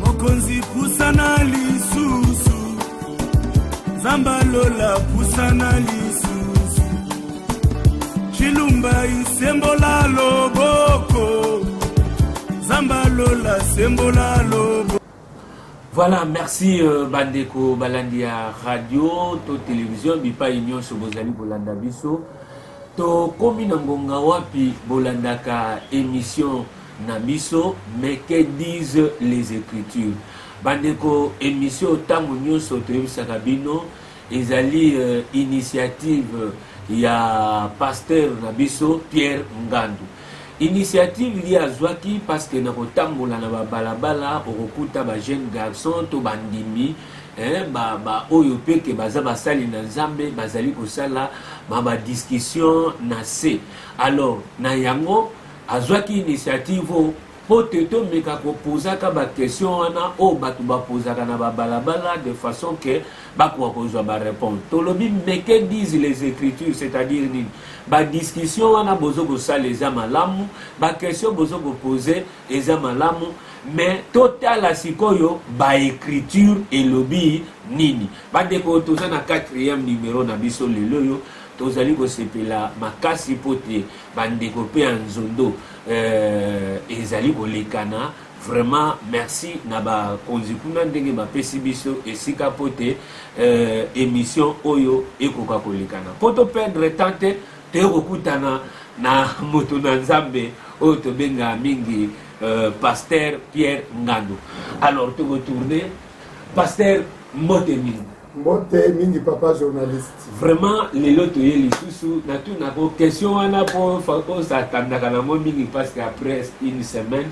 mokonzi pusana lisusu zamba lola pusana lisusu cilumba isembola loboko zamba lola sembola loboko voilà merci euh, bandeko balandi ya radio to télévision bipai nyonso bozali kolanda biso tokomi na ngonga wapi bolandaka émission na biso mais que disent les ecritures bandeko emission ntango nyonso toyebisaka bino ezali euh, initiative ya pasteur na biso pierre ngandu initiative ye azwaki parce que na kotambola na babalabala okokuta bajeune garçon to bandimi eh, baoyo ba mpe ke baza basali na nzambe bazali kosala ma badiscussion na se alors na yango azwaki initiative oyo mpo te tomeka kopozaka baquestion wana oyo bato bapozaka na babalabala de façon ke bakoka kozwa bareponse tolobi meke dise les écritures c'est-à-dire nini badiscussion wana bozo kosala eza malamu baquestion bozo kopose eza malamu mais totala sikoyo baécriture elobi nini bandeko toza na 4e numero na biso lelo oyo tozali kosepela makasi mpo te bandeko pe ya nzondo euh, ezali kolekana vraiment merci na bakonzi kuna ndenge bapesi biso esika mpo te euh, émission oyo ekoka kolekana mpo toperdre temps te toye kokutana na moto na nzambe oyo tobengaka mingi euh, pasteur pierre ngando alors tokotourne pasteur mbote mingi mbote mingi papa journaliste vraiment lelo toye lisusu natunako question wana po osatandaka nango mingi parce que après une semaine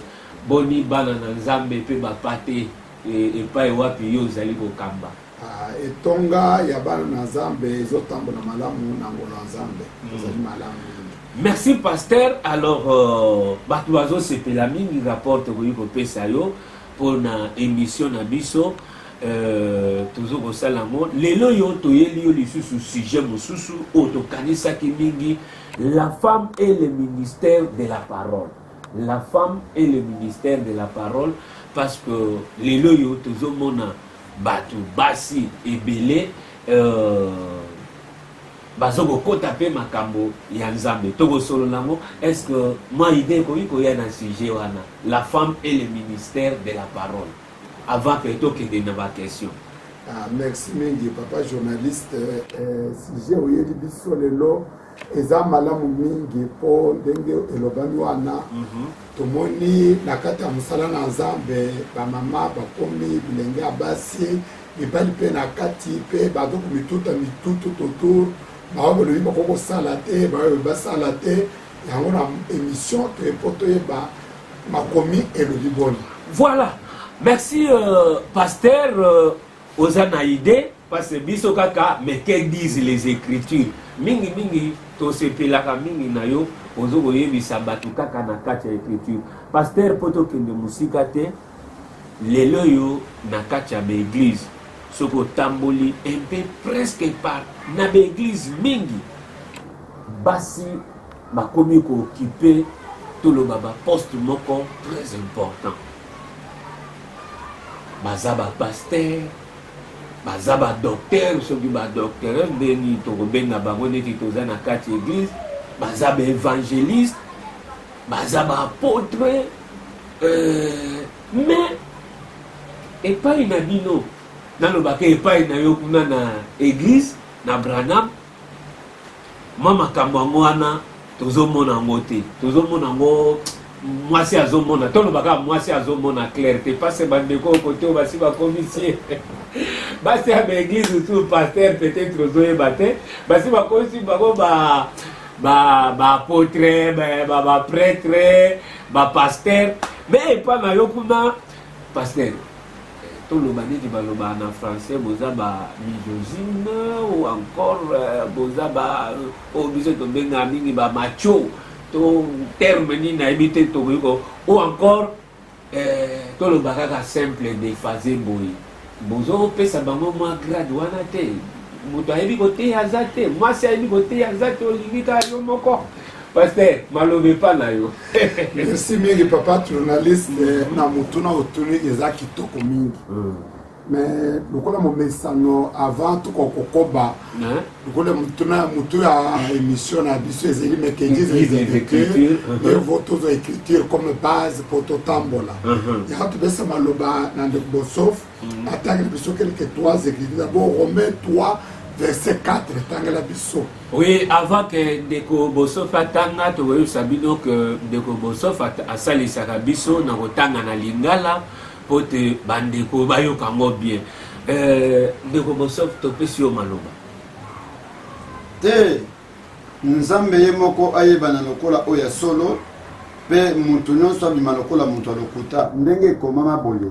boni bana na nzambe mpe bapa te e, epai wapi yo ozali kokamba ah, etonga ya bana na nzambe ezotambola malamu na ngolo ya nzambe hmm. ezali malamu merci pasteur alors euh, bato bazosepela mingi rapport tokoki kopesa yo mpo na émission na biso Euh, tozo kosala yango lelo yo toyeli yo lisusu sujet mosusu oyo tokanisaki mingi la femme et le ministère de la parole la femme et le ministère de la parole parce que lelo oyo tozomona bato basi ebele euh, bazo kokota mpe makambo ya nzambe tokosolola yango est ce que mwa ide ekoki koya na sujet wana la femme et le ministère de la parole Avant que tokende na ba question. Ah, merci mingi papa journaliste. Eh, sujet oyeli biso lelo eza malamu mingi mpo ndenge elobami wana mhm. tomoni na kati ya mosala na nzambe bamama bakomi bilenge ya basi mibali mpe na kati mpe bato komituta mitutu totour baoyo balobi bakoki kosala te baoyo basala te yango na émission toye mpo toyeba makomi elobi boni voilà merci euh, pasteur euh, oza na idée parce que biso kaka mais que disent les écritures mingi mingi tosepelaka mingi na yo ozo koyebisa bato kaka na kati ya écriture pasteur mpo tokende mosika te lelo oyo na kati ya baeglize soki otamboli mpe presque par na baeglize mingi basi Bakomi ko occuper toloba ba poste moko très important baza ba pasteur baza ba docteur soki ba docteur ndeni tokobenga bango neti toza na kati église baza ba évangéliste baza ba apôtre euh, mais epai na bino nalobaka epai na yo kuna na église na branam mwa makambo yango wana tozomona yango te tozomona yango mwasi azomona toloba kaka mwasi azomona claire te pase bandeko kote oyo basi bakomisie basi ya baeglise osu paster peut-être ozoyeba te basi bakomisi bango ba baapotre bapretre bapaster me epa na yo kuna paster To loba nini ba loba na français boza ba misogyne ou encore euh, boza ba euh, o biso to benga mingi ba macho to terme nini na yebi te to ko ou encore euh, to loba kaka simple de fazer boye bozo pesa bango mwa grade wana te moto ayebi koteya aza te mwasi ayebi koteya aza te olingi kaka yo moko Pasteur, maloba epa na yo. Merci mingi papa journaliste mm. na motuna otuni eza kitoko mingi. Mm. Mais lokola momesano avant tuko kokoba lokola motuna ya motu ya émission na biso ezali mekejizeécriture evo tozo écriture comme base mpo totambola yaka topesa maloba na ndeko bosof atangeli biso quelque trois église d'abord romain 3 verset 4 etangela biso oui avant que ndeko bosof atanga tokoyebisa bino ke ndeko bosof asalisaka biso na kotanga na lingala mpo te bandeko bayoka yango bien euh, ndeko bosof topesi yo maloba te nzambe ye moko ayebana lokola oyo ya solo mpe moto nyonso abima lokola moto ya lokuta ndenge ekomama boye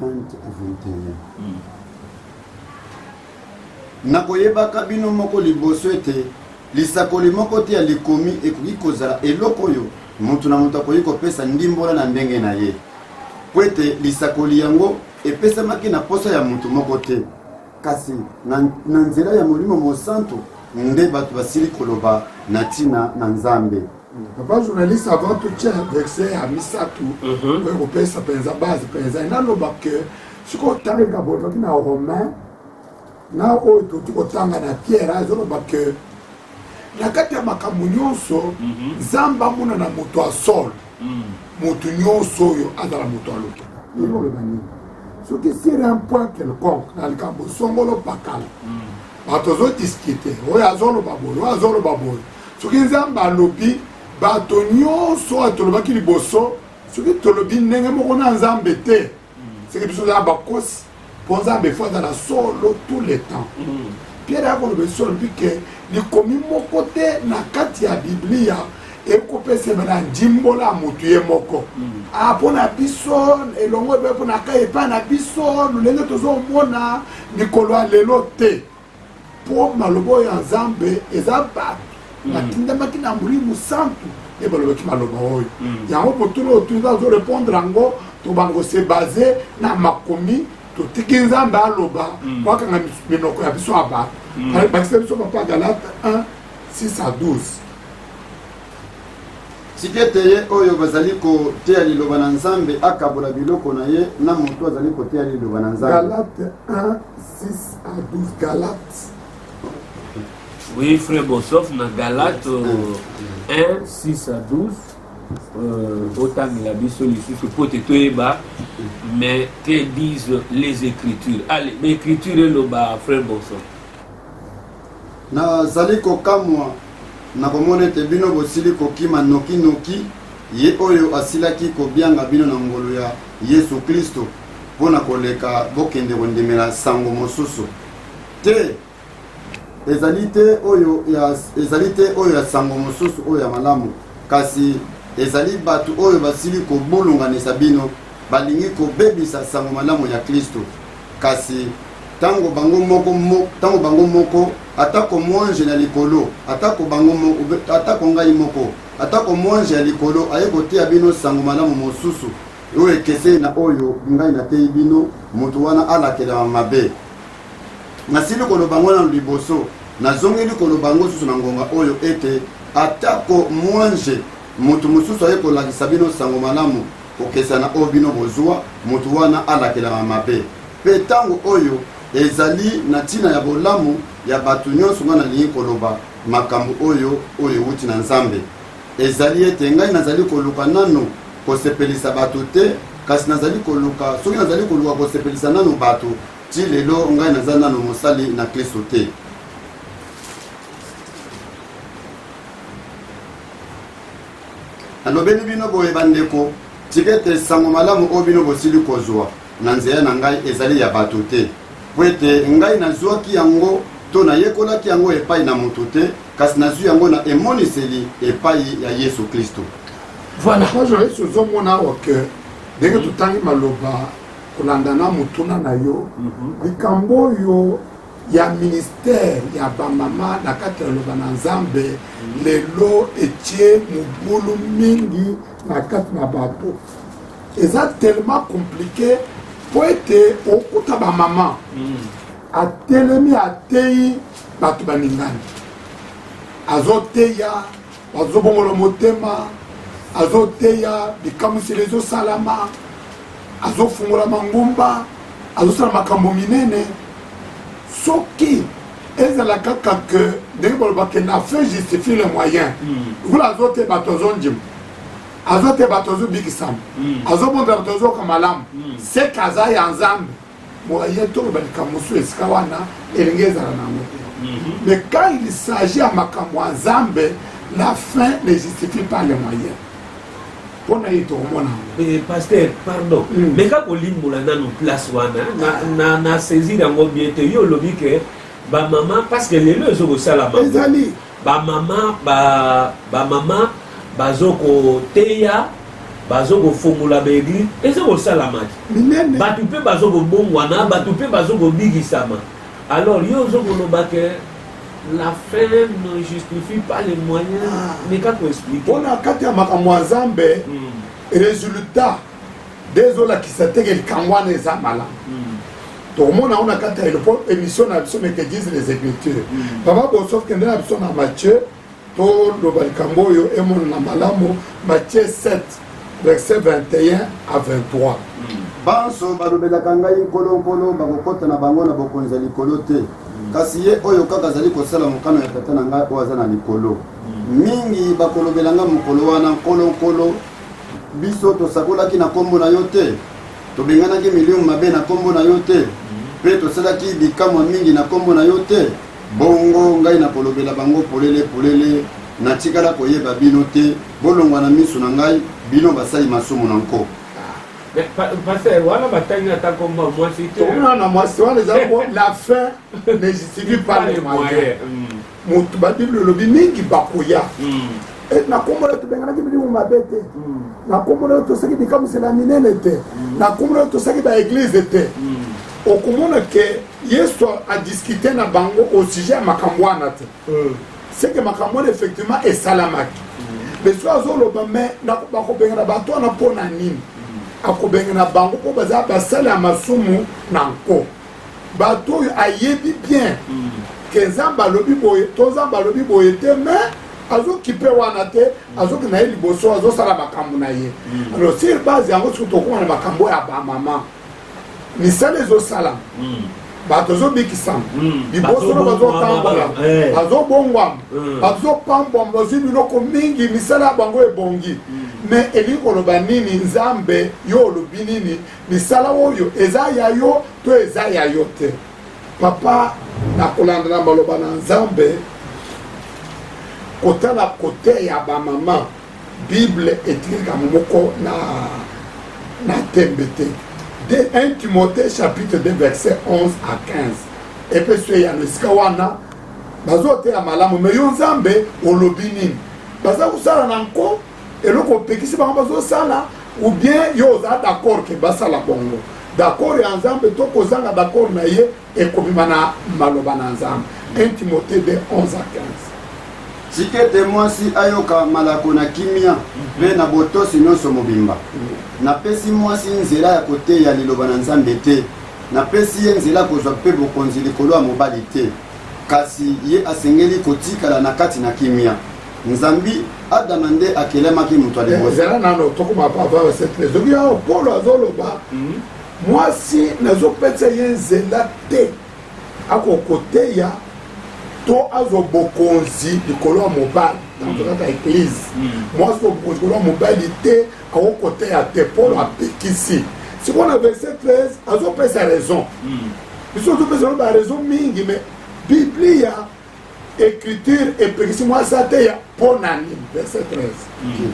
20 et 21 nakoyebaka bino moko liboso ete lisakoli moko te ya likomi ekoki kozala eloko oyo moto na moto akoki kopesa ndimbola na ndenge na ye mpo ete lisakoli yango epesamaki na mposa ya moto moko te kasi na, na nzela ya molimo mosantu nde bato basili koloba na ntina na nzambe Papa journaliste avant tout tia verset ya misato mhm. oyo kopesa mpenza base mpenza enaloba ke soki otangaka bozwaki na romain na oyo toki kotanga na pierre azoloba ke na kati ya makambo nyonso mhm. nzambe amona na moto ya solo mhm. moto nyonso oyo azala moto ya lokuta ekoloba nini soki sur un point quelconque na likambo songolo pakala bato ozodiskite oyo azoloba boye oyo azoloba boye soki nzambe alobi bato nyonso oyo tolobaki liboso soki tolobi ndenge moko na nzambe te soki biso ozala bakosi mpo nzambe efo azala solo tout le temps mm. pierre akoloba esi olobi ke likomi moko te na kati ya biblia ekopesema na ndimbola ya motu ye moko mm. ah, mpo na biso elongo epe mpo na kai epai na biso lolenge tozomona mikolo ya lelo te mpo maloba oyo ya nzambe eza bato mm. batindamaki na molimo santu nde balobaki maloba oyo mm. yango botuna oyo tuni azo répondre yango tobango se base na makomi totiki nzambe aloba mm. wakanga minoko ya biso ya bato bakisa biso papa galate 1 6 à 12 Tika ete ye oyo bazali koteya liloba na Nzambe akabola biloko na ye na moto azali koteya liloba na Nzambe. Galate 1, 6 à 12. Galate. Oui, frère Bossoff, na Galate 1, 6 à 12. botangela biso lisusu mpo te toyeba mais que disent les écritures allez baécriture eloba frère bonson Nazali kokamwa na komona ete bino bosili kokima noki-noki Ye oyo asilaki kobianga bino na ngolu ya Yesu Klisto mpo na koleka bokende kondimela sango mosusu te. Ezali te oyo ya, ezali te oyo ya sango mosusu oyo ya malamu, kasi ezali bato oyo basili kobulunganisa bino, balingi kobebisa sango malamu ya Klisto. Kasi ntango bango moko, ntango bango moko, atako mwanje na likolo, atako bango moko, atako ngai moko, atako mwanje ya likolo aye koteya bino nsango malamu mosusu oyo ekeseni na oyo ngai nateyi bino, moto wana alakelama mabe. Nasili koloba yango nano liboso, nazongeli koloba yango susu na ngonga oyo ete atako mwanje moto mosusu aye kolakisa bino nsango malamu Kokesana oyo bino bozua, moto wana alakelama mabe. Mpe ntango oyo ezali na ntina ya bolamu ya bato nyonso, ngai nalingi koloba makambo oyo, oyo euti na Nzambe. Ezali ete ngai nazali koluka nanu kosepelisa bato te, kasi nazali koluka, soki nazali koluka kosepelisa nanu bato, ti lelo ngai naza nanu mosali na Klisto te. nalobeli bino boye bandeko tika ete nsango malamu oyo bino bosili kozwa na nzela na ngai ezali ya bato te mpo ete ngai nazwaki yango to nayekolaki yango epai na moto te kasi nazwi yango na emoniseli epai ya yesu kristo voilà yesu ozomona awa ke ndenge totangi maloba kolandana motuna na yo mhm. likambo oyo ya ministère ya bamama na kati ya loba na nzambe lelo etie mobulu mingi na kati na bato eza tellement compliqué mpo ete okuta bamama mm. atelemi ateyi bato balingani azoteya azobongola motema azoteya bikamwiseli ezosalama azofungola mangomba azosala makambo minene soki ezala kaka ke ndenge balobaka la fin justifie le moyen hmm. lokola azo te bato azondima azo te bato azobikisama hmm. azobonza bato azoyoka malamu hmm. seke aza ya nzambe boye toloba likambo mosusu esika wana elenge ezala na yango te mhm. mais quand il s'agit ya makambo ya nzambe la fin ne justifie pas le moyen mpo na ye tokomona yango eh, paster pardon mm. meka kolimbola nanu place wana na, na saisir yango bien te yo olobi ke bamama parce que lelo ezokosala ezali ba mama ba ba mama bazo koteya bazo kofongola baeglise eza kosalama te bato mpe bazo kobongwana bato mpe bazo kobikisama alors yo ozo koloba ke la fin ne justifie pas les moyens ah. meka koexplike mpona kati ya makambo ya nzambe hmm. résultat nde ezolakisa teke likambo wana eza malamu hmm. tokomona yango na kati ya elopo émission na biso mekedise les écritures hmm. papa bosof kende na biso na mathieu toloba likambo oyo emonana malamu mathieu 7 verset 21 à 23 banso balobelaka ngai nkolonkolo bakokota na bango na bokonzi ya likolo te hmm. kasi ye oyo kaka azali kosala mokano ya tata na ngai oyo aza na likolo mingi bakolobela ngai mokolo wana nkolonkolo Biso tosakolaki na nkombo na yo te, tobenganaki milimo mabe na nkombo na yo te, mpe tosalaki bikamwa mingi na nkombo na yo te? Bongo ngai nakolobela bango polele polele, natikala koyeba bino te, bolongwa na miso na ngai, bino basali masumu na nko. Mais pa- pasteur wana batangi ata nkombo ya mwasi te tokomona na mwasi wana eza po la fin ne justifie pas le moyen Mm. moto ba bible olobi mingi bakoya hmm. eh, na nkombo yo tobenganaki bilimu mabe te hmm. na nkombo yo tosaki bikamwisela minene te hmm. na nkombo yo tosaki baeglize te okomona ke yesu adiskute na bango au sujet ya makambo wana te seke makambo wana effectivement esalamaki lesu azoloba me bakobengana bato wana mpo na nini akobengana bango mpo baza basali ya masumu na nko bato oyo ayebi bien mm. ke nzambe alobi boye to nzambe alobi boye te mais azokipe wana te mm. azoki na ye liboso azosala makambo na ye mm. alors sur base yango soki tokoma na makambo ya bamama misala ezosalama bato ezobikisama liboso na bazotambola bazobongwama eh. bazopambwama bazwi biloko mingi misala ya bango ebongi me elingi koloba nini nzambe yo olobi nini misala oyo eza ya yo to eza ya yo te papa na kolanda na maloba na nzambe kotala kote ya bamama bible etiki likambo moko na, na tembe te de 1 timothée chapitre 2 verset 11 à 15 epeso eyano esika wana bazoteya malamu me yo nzambe olobi nini baza kosala na nko eloko opekisi bango bazosala ou bien yo oza d'accord ke basala bongo d'accord ya nzambe to kozanga d'accord na ye ekobima na maloba na nzambe 1 timote 2 11 a 15 sikete mwasi ayoka malako na kimia mpe na botosi nyonso mobimba napesi mwasi nzela ya koteya liloba na nzambe te napesi ye nzela kozwa mpe bokonzi likolo ya mobali te kasi ye asengeli kotikala na kati na kimia nzambi adama nde akelemaki moto ya eh, liboso zela nano tokoma papa basete ezoki yango polo azoloba mhm. mwasi nazopesa ye nzela te akokoteya to azwa bokonzi likolo ya mobali mhm. kaka eglize mhm. mwasi bokonzi likolo ya mobali te akokoteya te polo apekisi sikoyo na verset 13 azopesa raison biso tozopesa no baraison mingi mais biblia écriture epekisi mwa aza te ya mpo na nini verset 13 mm.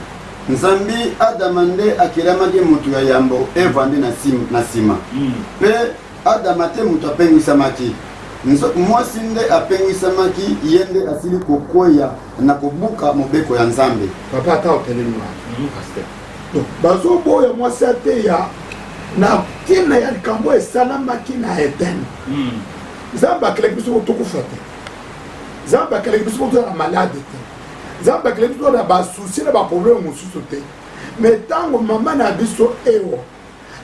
nzambi adama nde akelamaki moto ya yambo eva nde na nsima mm. mpe adama te moto apengwisamaki mwasi nde apengwisamaki ye nde asili kokweya na kobuka mobeko ya nzambe papa ata otelemi mm. bazoboya mwasi ateya na ntina ya likambo esalamaki na edene nzambe akelaki biso tokufa te nzambe akelaki biso toza na malade te nzambe akelaki biso na basusi na baprobleme mosusu te me ntango mama na biso ewa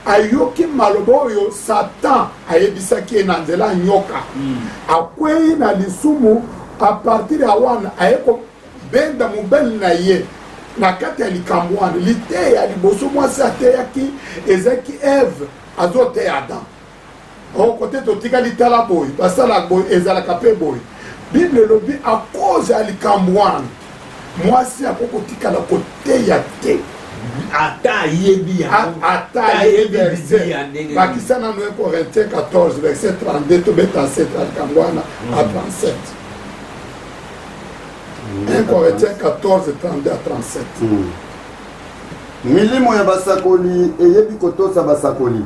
ayoki maloba oyo satan ayebisaki ye na nzela ya nyoka hmm. akwei na lisumu apartir ya wana aye kobenda mobali na ye na kati ya likambo wana liteya liboso mwasi ateyaki ezalaki eve azoteya adam oh kote totikali tala boye basala boye ezalaka mpe boye bible elobi akoze ya likambo wana mwasi ako kotikala koteya te ata ayebi ata ayebi bakisa nano ye corinthien 14 verset 32 tobeta setra likambo wana mm. a 37 1 corinthien 14 32 a 37 milimo ya basakoli eyebi kotosa basakoli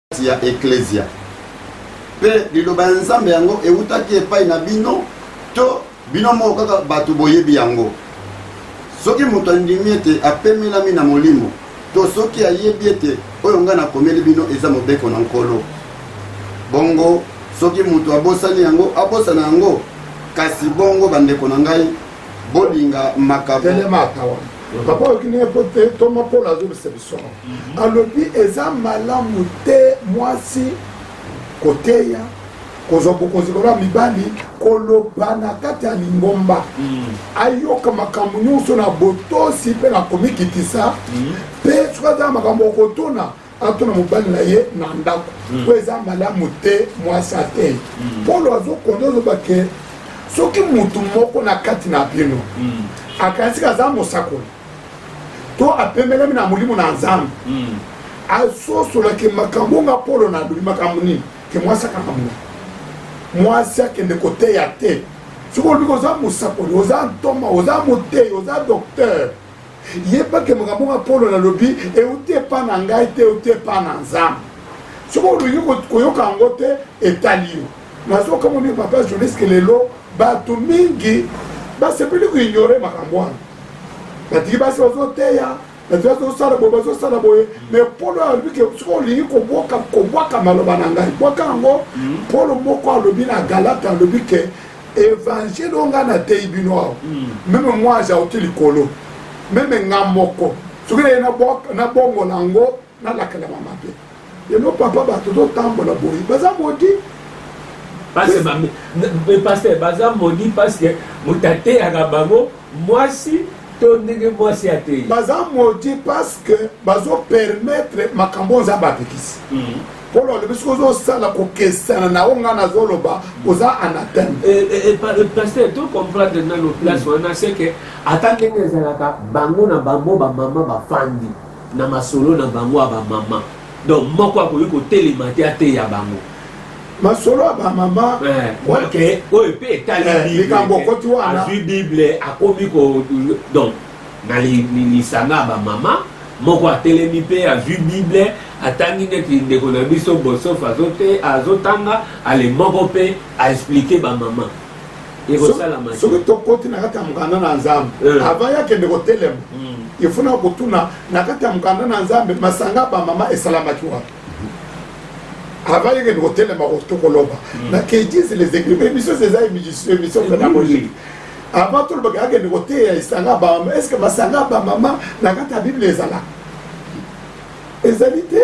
kati ya eklezia mpe liloba ya nzambe yango eutaki epai na bino to bino moko kaka bato boyebi yango soki moto andimi ete apemelami na molimo to soki ayebi ete oyo ngai nakomeli bino eza mobeko na nkolo bongo soki moto abosani yango abosana yango kasi bongo bandeko na ngai bolinga makabo telemaka wana papa oyoki ndenge po te ntoma polo azobisa biso mhm. alobi eza malamu te mwasi koteya kozwa bokonzi koloba mibali koloba na kati ya lingomba mhm. ayoka makambo nyonso na botosi mpe na komikitisa mhm. mpe soki aza na makambo okotuna ato na mobali na ye na ndako hmm. oyo eza malamu te mwasi atei hmm. polo azokonda oloba ke soki motu moko na kati na bino hmm. akanisiki aza mosakoli to apemelami na molimo na nzambe asosolaki makambo nga polo na alobi makambo nini ke mwasi akanga mo mwasi akende koteya te soki olobi oza mosakoli oza ntoma oza moteyi oza docteur yeba ke makambo nga polo nalobi euti epa na ngai te euti epa na nzambe soki oluki koyoka yango te etali yo nazokamoni papa journaliste lelo bato mingi basepeli koignore makambo wana batiki basi bazoteya bati bazosala boye bazosala boye me polo alobi ke soki olingi kobwaka maloba na ngai bwaka yango hmm. polo moko alobi na galata alobi ke evangile oyo ngai nateyi bino awa hmm. meme mwa azauti likolo meme nga moko soki naye nabongola yango nalakelama mabe lelo papa bato totambola boye baza modi paster baza modi paske moto ateyaka bango mwasi to ndenge mwasi ateyi baza modi paske bazopermetre makambo oyo nzambe apekisi hmm. polo alobi soki ozosala kokesana na oyo ngai nazoloba oza anateme eh, eh, eh, paster to comprendre nano place wana se ke ata ndenge ezalaka bango na bango bamama bafandi na masolo na bango ya bamama donc moko akoki kotelema te ateya bango masolo ya bamama oyo mpe etali likambo okoti wana azwi bible akomi ko donc Na lisanga ya bamama, moko atelemi mpe azwi Bible, atangi neti ndeko na biso Bossof azotanga, ale moko mpe a expliquer bamama. Ekosalama te. Soki tokoti na kati ya mokanda na Nzambe, eh. avant ye akende kotelema, hmm. il faut na kotuna na kati ya mokanda na Nzambe, masanga ya bamama esalamaki wapi? avant yeke ndiko telema tokoloba mm. na kedis les écrivains émission eza émission émission pédagogique avant tolobaka akende koteya esanga bamama est ce que masanga bamama na kati ya bible ezalaka ezali te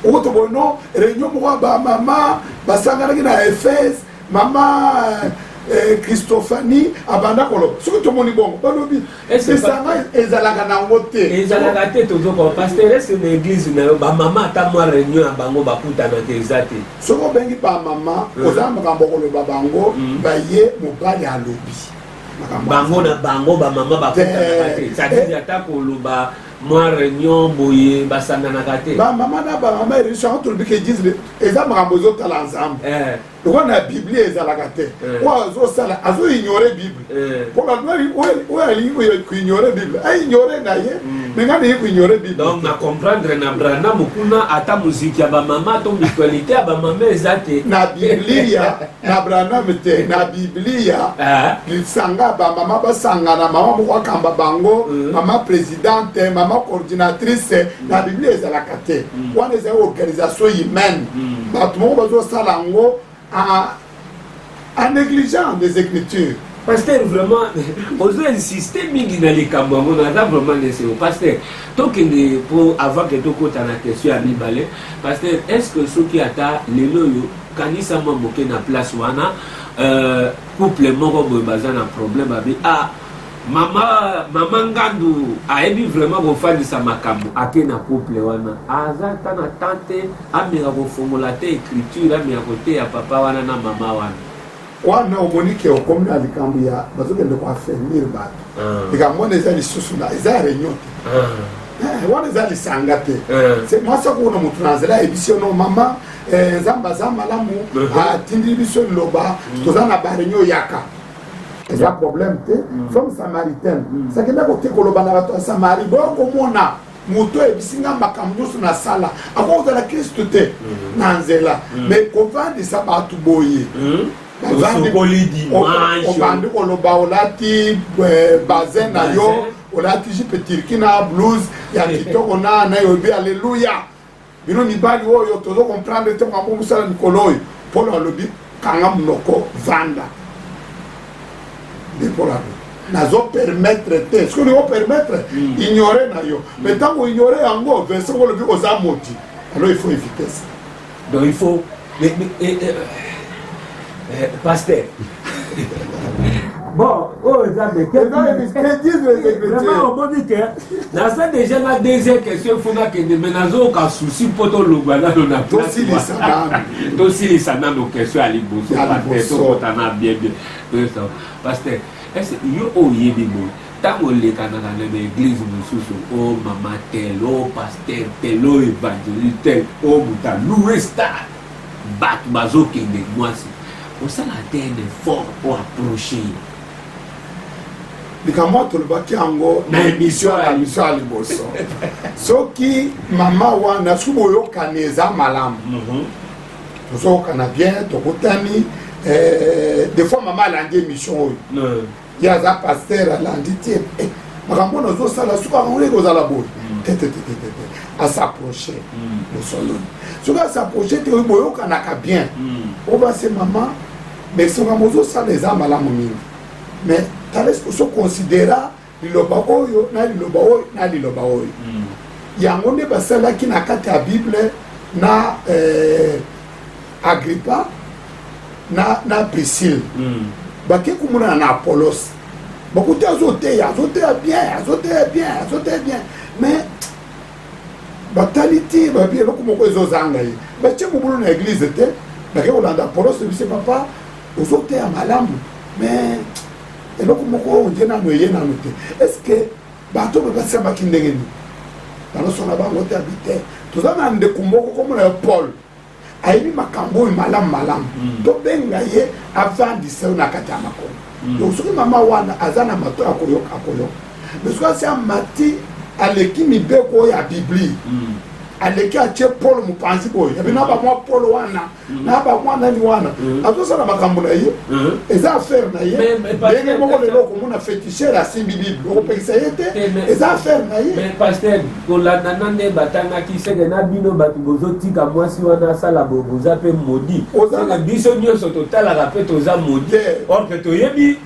okotobono réunion moko ya bamama basanganaki na ephèse mama eh, christophanie abanda koloba soki tomoni bongo balobi lisanga ezalaka nango te ezalaka te tozokoa pasteur ese na eglise na yo bamama ata mwa réunion ya bango bakutana te eza te soki obengi bamama hmm. oza makambo okoloba bango hmm. baye mobali alobi bango na bango bamama bakutanaka te eh, eh. ata koloba mwa reunion boye basanganaka te bamama na bamama ereso yango tolobi ke disle eza makambo ezotala nzambe eh. lokola na biblia ezalaka te eh. oyo azosala azoignore bible eh. mpo oyo alingi koignore bible aignore na ye hmm. me ngai naye koignore bible donc na comprendre na branam kuna ata moziki ya bamama to mutualité ya bamama eza te na biblia na branam te na biblia ah. lisanga bamama basangana mama moko akamba bango mm. mama presidente mama coordinatrice mm. na biblia ezalaka te mm. wana ezali organisation humaine bato moko bazosala yango en négligeant des écritures pasteur vraiment ozo insiste mingi na likambo yango naza vraiment neseo pasteur tokende mpo avant ke tokota na question ya mibale pasteur est ce que soki ata lelo oyo kanisa mwa moke na place wana euh, couple moko boye baza na problème babi ah mama mama ngandu ayebi vraiment kofandisa makambo ake na couple wana aza ata na temps te ameka kofongola te écriture ameka koteya papa wana na mama wana wana omoni ke okomi na likambo ya bazokende koaffermir bato ah. likambo wana eza lisusu na eza ya reunion te ah. eh, wana eza lisanga te eh. se mwasi akokona motu na nzela ayebisi yo no mama eh, nzambe aza malamu uh-huh. ah, atindi biso liloba mm. toza na bareunion yaka eza problème te mm. femme samaritaine mm. sakenda kote koloba na bato ya samari bokomona moto ayebisi ngai makambo nyonso nasala akoki kozala kristu te mm. na nzela mm. me kovandisa bato boye mm. obandi koloba olati eh, basin na yo olati jipe turki na blouse ya kitoko na nayobi aleluya bino mibali oyo tozo comprendre te makambo mosala mikolo oyo polo alobi kanga monoko vanda nde polo alobi nazo permettre te soki olingi opermettre hmm. ignore na yo hmm. mais ntango ignore yango vincent olobi oza moti alors il faut éviter ça donc il faut Mais, mais, eh, eh, eh, pasteur. bon oyo oh, eza mekevraiment omoni te naza déjà na deuxième question fo nakende me nazoyoka souci mpo tolongwa nano na tosilisa nano question ya liboso paster tokota na bien bien paster ese yo oyebi boye Tango olekanaka na ba eglise mususu o oh, mama tel o oh, pasteur tel o oh, evangeliste tel o moto aloue stade bato bazokende mwasi osala te un effort o approche ye likambo oyo tolobaki yango na emission ya emission ya liboso soki mama wana soki boyokani eza malamu mhm. tozoyokana bien tokutani eh, des fois mama alandi émission oyo ye aza paster alandi tie eh, makambo wana ozosala soki akango ye kozala boye mm. tetetetete asapproche mm. bosoloni soki asapproche te boyokanaka bien mm. obase mama mais soki yango ozosala eza malamu mingi mais tales osoconsidera liloba oyo na liloba oyo na liloba oyo yango nde basalaki na kati ya bible na eh, agripa na, na prisile mm. bake komonana na apolos bakuti azoteya azoteya bien azoteya bien azoteya bien mais batali ti babi eloko moko ezozanga ye batye mobulu na eglize te bake kolanda apolos ebise papa ozoteya malamu mais eloko moko oyo nde nano eye nano te est ce que bato oyo babatisambaki ndenge nini balosona bango te abi te toza na ndeko moko komona ya paul ayebi makambo oyo malamu malamu mm. tobenga ye avandisa yo na kati ya makolo mm. donc soki mama wana aza na mato ya koyoka akoyoka mais soki asi amati aleki mibeko oyo ya biblia mm. aleki atie polo mopanzi boye yabe na bamwa polo wana na bamwa nani wana azosala makambo na ye eza affaire na ye ndenge moko lelo okomona fetishere asimbi bible okopekisa ye te eza affaire na ye kolanda na nde batangaki seke na bino bato bozotika mwasi wana asala boye boza mpe modi seke biso nyonso totalaka mpe toza modi or mpe toyebi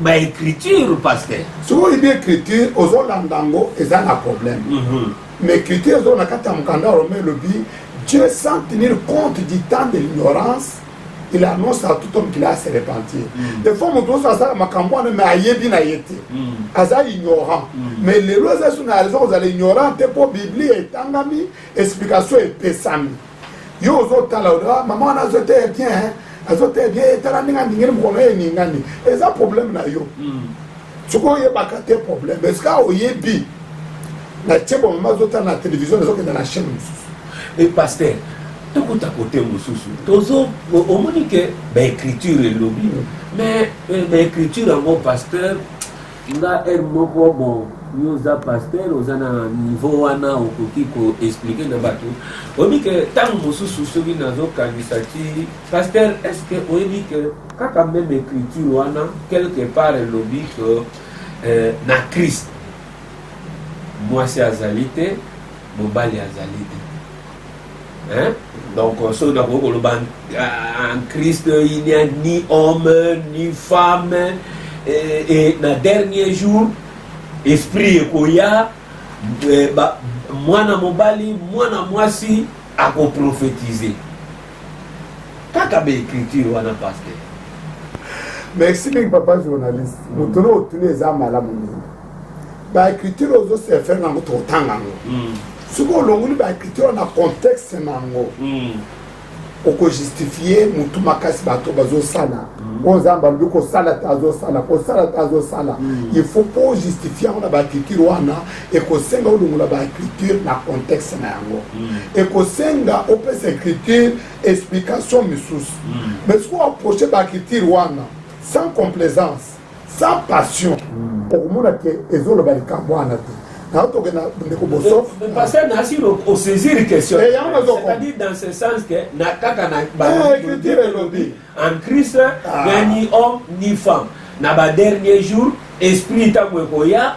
baécriture paster soki oyebi écriture ozolanda yango eza na problème mhm. mais écriture ezoo na kati ya mokanda rome elobi dieu sans tenir compte du temps de l'ignorance il annonce à tout homme qu'il a se repentir mm. des fois moto oso asala makambo wana mais ayebi na ye te mm. aza ignorant mm. mais lelo eza so na raison kozala ignorant te mpo biblia etangami explication epesami yo ozotala oa mama wana azoteya bien azoteya bien etala ndenge andingeli mokono ye eningani eza problème na yo sikoyo oyebaka te problème esika oyebi na tie bomama azotala na télévision ezokenda na chaîne mosusu e pasteur tokota kote mosusu tozo omoni ke baécriture elobi mais euh, baécriture yango pasteur nga heure moko bon yo oza pasteur oza na niveau wana okoki koexplike na bato oyebi ke ntango mosusu soki nazokanisa ti pasteur est ce que oyebi ke kaka meme écriture wana quelque part elobi ke euh, na christ mwasi azali te mobali azali te hein? donc euh, soki nakoki koloba en euh, christ il n'y a ni homme ni femme et, et na dernier jour esprit ekoya euh, mwana mobali mwana mwasi akoprofetize kaka baecriture wana paster merci mingi papa journaliste moto no otuni eza malamu mingi baecriture ozo se faire nango totanga yango hmm. soki olongoli baecriture na contexte na yango hmm. okojustifie motu makasi bato bazosala hmm. oyo nzambe alobi kosala te azosala kosala te azosala il faut mpo ojustifie yango na baecriture wana ekosenga olongola baecriture na contexte na yango ekosenga opesa ecriture explication misusu mais soki oaproche baecriture wana sans complaisance sans passion okomona ke ezoloba likambo wana te nayo tokenda ndeko bosoffpasteur nasi osaisir questioncestadire dans ce sens que na kaka na bacriture eh, elobi en christ ah. ni homme ni femme na badernier jour esprit ntango ekoya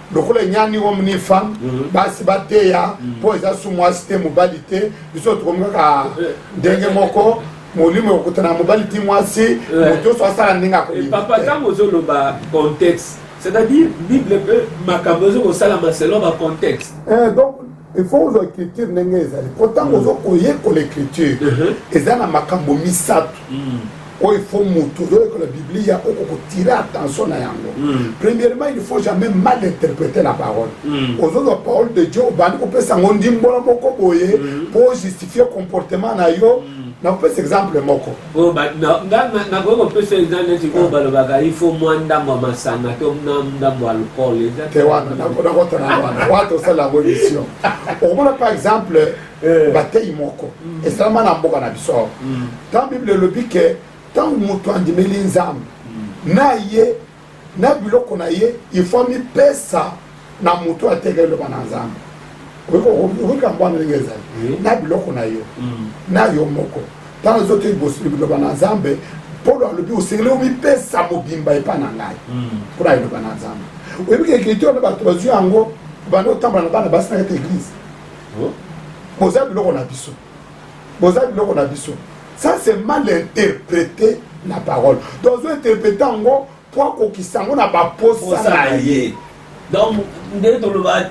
lokola enyani homme ni femme mhm. basi bateya mhm. mpo eza su mwasi te mobali te biso tokomi kaka ndenge moko molimo ekokutana na mobali ti mwasi moto nyonso asala ndenge akopapa eh, ntango ozoloba contexte c'est-à-dire bible mpe makambo ezokosalama selon bacontexte eh, donc il faut ozwa écriture ndenge ezali mpo ntango ozo koyekola écriture eza na makambo misato oyo ifo motu ozoyekola biblia oko kotire attention na yango hmm. premièrement il faut jamais mal interpréter la parole hmm. ozozwa parole de dieu obandi kopesa yango ndimbola moko boye mpo hmm. ojustifie comportement na yo nakopesa exemple moko oyo nakoki kopesa eza neti oyo balobaka ifo mwa ndambo ya masanga to na ndambo ya alcool te wana nakotana wana wana tosala yango émission okomona par exemple eh. bateyi moko mm. esalama na mboka na biso awa mm. ntango bible elobi ke ntango moto andimeli nzambe mm. na ye na biloko na ye il faut amipesa na moto ateka eloba na nzambe okokambo wana ndenge ezali na biloko na yo mm. na yo moko ntango ezote liboso biloba na nzambe polo alobi osengeli omipesa mobimba epai na ngai mm. mpo na eloba na nzambe oyebi kekiti wana bato bazwi yango banda otambola na bana basi na kati eglize oh. boza biloko na biso boza biloko na biso ça c'est mal interprété la parole donc ozo interprété yango mpo akokisa yango na baposa na ye donc nde toloba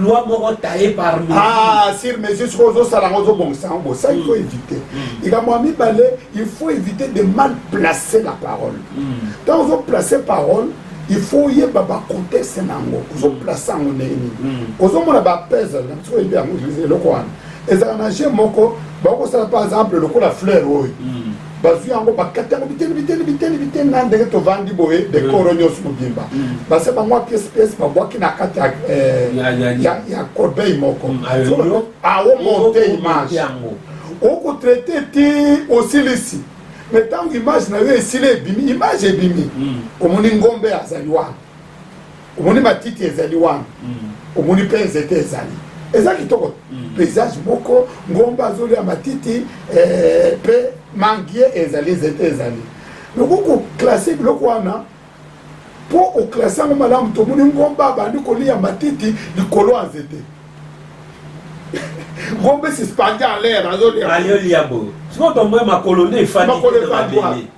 loi moko taye parmi ah sur mesure soki ozosala yango ozobongisa yango bosa il faut mm. éviter mm. likambo ya mibale il faut éviter de mal placer la parole ntango mm. ozoplace parole il faut oyeba bacontexte na yango ozoplace yango ndenge nini ozomona bapesle na biso oyebi yango eloko wana ezala na je moko bakosala par exemple lokola fleur oyo mm. bazwi yango bakati yango biteni biteni biteni biteni na ndenge tovandi boye dekoro mm. nyonso mobimba mm. base bango ya pièce pièce babwaki na kati ya eh, corbeille moko aomonte image okotraite ti osilisi me ntango image na yo esili ebimi image ebimi omoni ngombe azali wana omoni matiti ezali wana mm. omoni mpe nzete ezali eza kitoko mm. paysage moko ngomba azolia matiti eh, mpe eh, mangie ezali nzete ezali loko koklase biloko wana mpo oklase yango malamu tomoni ngomba abandi kolia matiti likolo ya nzete ngombe suspendu en l'air azolia azolia bo sikoyo tomboye makolo nde efandi makolo efandi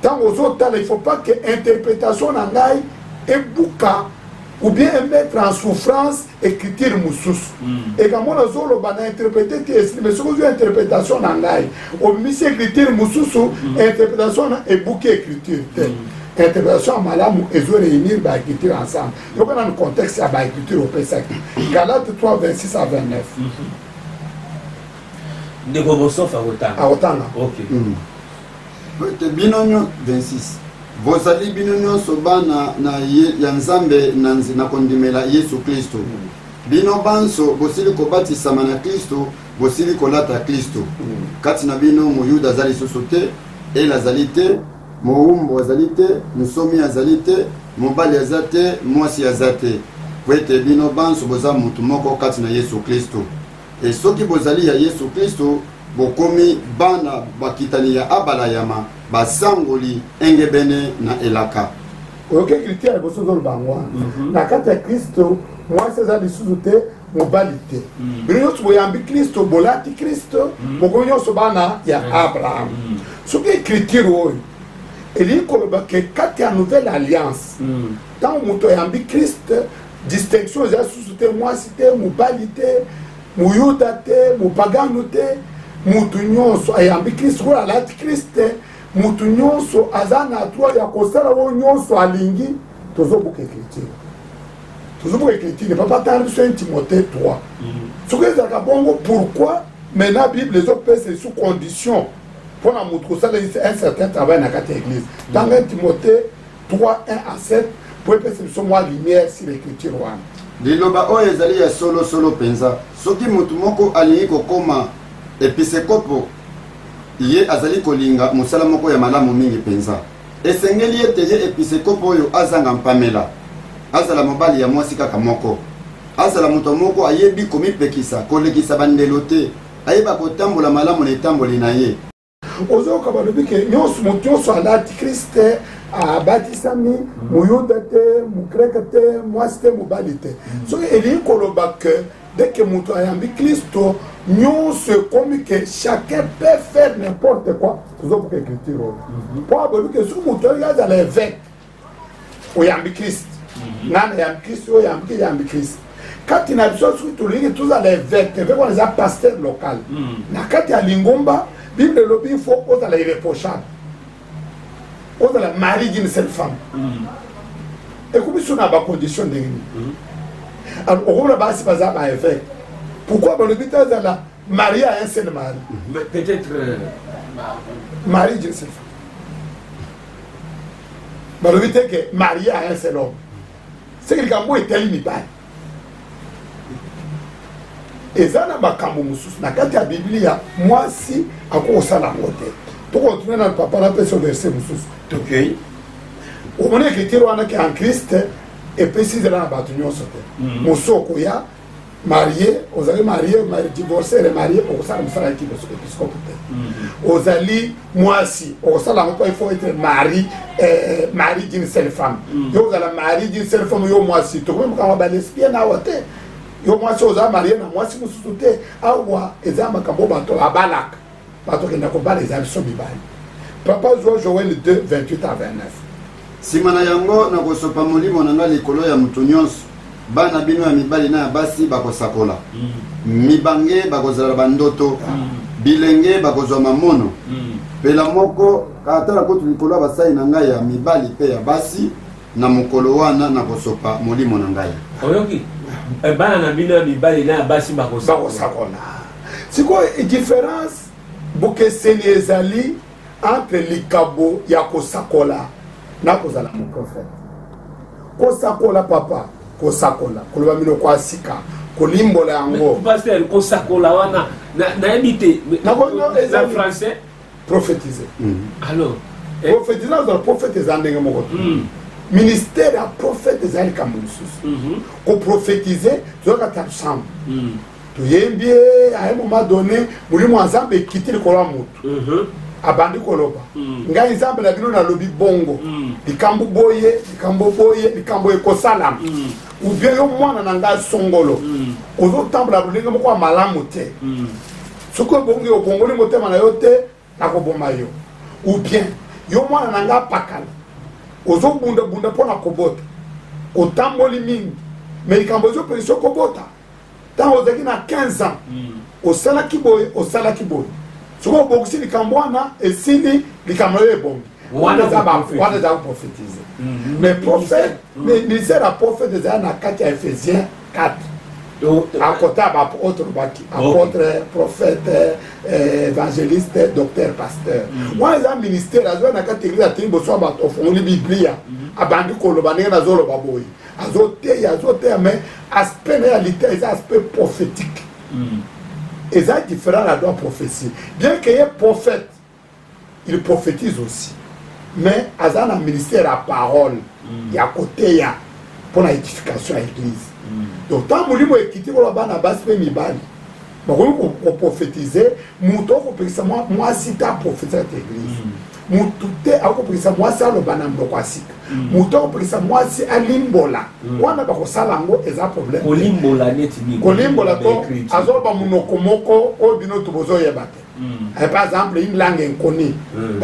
ntango ozotala il faut pas que interprétation na ngai ebuka ou bien emettre en souffrance écriture mosusu mm. ekambo nazoloba na interprete te esili mais soki ozwi interprétation na ngai obimisi écriture mosusu mm. interprétation na ebuki écriture te mm. interprétation ya malamu ezo réunir baécriture ensemble yoka nanu contexte ya baécriture opesaki galate 3 26 à 29 mm-hmm. ndeko bosofa akotanga akotanga okay. mm. Pwete bino nyo, 26 bozali bino nyonso bana na ye, ya Nzambe na, na kondimela Yesu Klisto. Mm. Bino banso bosili kobatisama na Klisto, bosili kolata Klisto. Mm. Kati na bino moyuda azali lisusu te, ele azali te, mowumbu azali te, nsomi azali te, mobali aza te, mwasi aza te, pwete bino banso boza moto moko kati na Yesu Klisto. E soki bozali ya Yesu Klisto, bokomi bana bakitani ya Abalayama, basangoli engebene na elaka. Oyoki kritia ya liboso ozoloba yango wana mhm. na kati ya Klisto mwasi eza lisusu te mobali te mm. bino nyonso boyambi kristo bolati kristo mm. bokomi nyonso bana ya mm. abraham soki ekritire oyo elingi koloba ke kati ya nouvelle alliance ntango moto ayambi kriste distinction eza susu te mwasi te mobali te moyuda te mopagano te motu nyonso ayambi kristo oyo alati kristo te motu nyonso aza na droit ya kosala oyo nyonso alingi tozobuka ecriture tozobuka ecriture papa tanga biso 1 timote 3 mm. soki ezalaka bongo pourquoi maintenant bible ezopesa esu condition mpo na motu kosala un certain travail na kati ya église tanga 1 timote 3 1 à 7 mpo epesa biso mwa lumière sur l'écriture wana liloba oyo ezali ya solosolo mpenza soki moto moko alingi kokoma episekopo ye azali kolinga mosala moko ya malamu mingi mpenza esengeli ete ye episekopo oyo azanga mpamela azala mobali ya mwasi kaka moko azala moto moko ayebi komipekisa kolekisa bandelo te ayeba kotambola malamu na etamboli na ye ozoyoka balobi ke nyonso moto nyonso alati krist te abatisami moyuda te mogreke te mwasi te mobali te mm. soki elingi koloba ke deke moto ayambi kristo nyonso ekomi ke chacun peut faire n'importe quoi tozobuka écriture oyo mpo abobi ke soki moto oyo azala évêque oyambi krist mhm. nana yambi krist oyo yambi yambi krist kati na biso soki tolingi tozala eveke eveke wana eza pasteur local mhm. na kati ya lingomba bible elobi ifo ozala irreprochable ozala mari d'une seule femme mhm. ekomi so na bacondition ndenge nini alors okomona basi baza ba eveke pourquoi balobi te azala marie a un seul mari peut-être euh, mari d'une seule femme balobi te ke marie a un seul homme seke likambo oyo etali mibali eza na makambo mosusu na kati ya biblia mwasi akoki kosala yango te tokotuna na papa napesa verse mosusu tokei omoni ekritire wana ke en christ epesi nzela na bato nyonso te mosu okoya marie ozali marie divorce remarie okosala mosala ya episcope te mm-hmm. ozali mwasi okosala yango mpo il faut etre marie eh, eh, marie d'une seule femme mm. yo ozala marie d'une seule femme yo mwasi tokomi makambo balesbienne awa te yo mwasi oza marie na mwasi mosusu te awa eza makambo bato babalaka bato kenda kobala eza biso mibali papa zwa joel 2 28 a 29 nsima na yango nakosopa molimo na ngai likolo ya moto nyonso bana bino ya mibali na ya basi bakosakola mm. mibange bakozala bandoto ah. bilenge bakozwa mamono mm. pela moko atala kutu likolo ya basali na ngai ya mibali mpe ya basi na mokolo wana nakosopa molimo na ngai oyoki eh, bana na bino ya mibali na ya basi bakosakola sikoyo différence bokeseni ezali entre likabo ya kosakola na kozala moprofete kosakola papa kosakola koloba minoko ya sika kolimbola yango kosakola wana nayebi te na français prophétiser alors eh. prophétiser azala prophète eza ndenge moko te hmm. ministère ya prophète eza likambo mosusu mhm. koprophétiser toyoka ta nsambo hmm. toyembi ye aye moma donné molimo ya nzambe ekiti likolo ya motu mhm. abandi koloba hmm. ngai nzambe na bino nalobi bongo likambo boye likambo boye likambo ekosalama ou bien yo mwana na ngai songolo ozotambola lolenge moko ya malamu te soki obongi obongoli motema na yo te nakoboma yo ou bien yo mwana na nga apakala ozobundabunda mpo na kobota otamboli mingi me likambo ezopekisa okobota ntango ozalaki na 15 ans hmm. osalaki boye osalaki boye soki obongisi likambo wana esili likambo yo ebongi wana eza koprofetize mais prophète ministère ya prophète ezali na kati ya ephésien 4 akota ba autre baki apôtre prophète eh, évangéliste docteur pasteur mm. wana eza ministère azwa na kati eglise atei boso ya bato ofungoli biblia mm. abandi koloba ndenge nazoloba boye azoteya azoteya mais aspect na ya lita eza aspect prophétique mm. eza différent na droit prophétie bien que ye prophète il prophétise aussi mais aza na ministère ya parole mm. ya koteya mpo na édification ya église mm. donc ntango molimo ekiti koloba bana basi mpe mibali bakoki koprophétise moto akopekisa mwasi te aprofetisa te église mm. motu te akopekisa mwasi aloba na mboko ya sika moto akopekisa mwasi alimbola wana bakosala yango eza problème kolimbola to azoloba monoko moko oyo bino to bozoyeba te Eh, par exemple une langue inconnue hmm.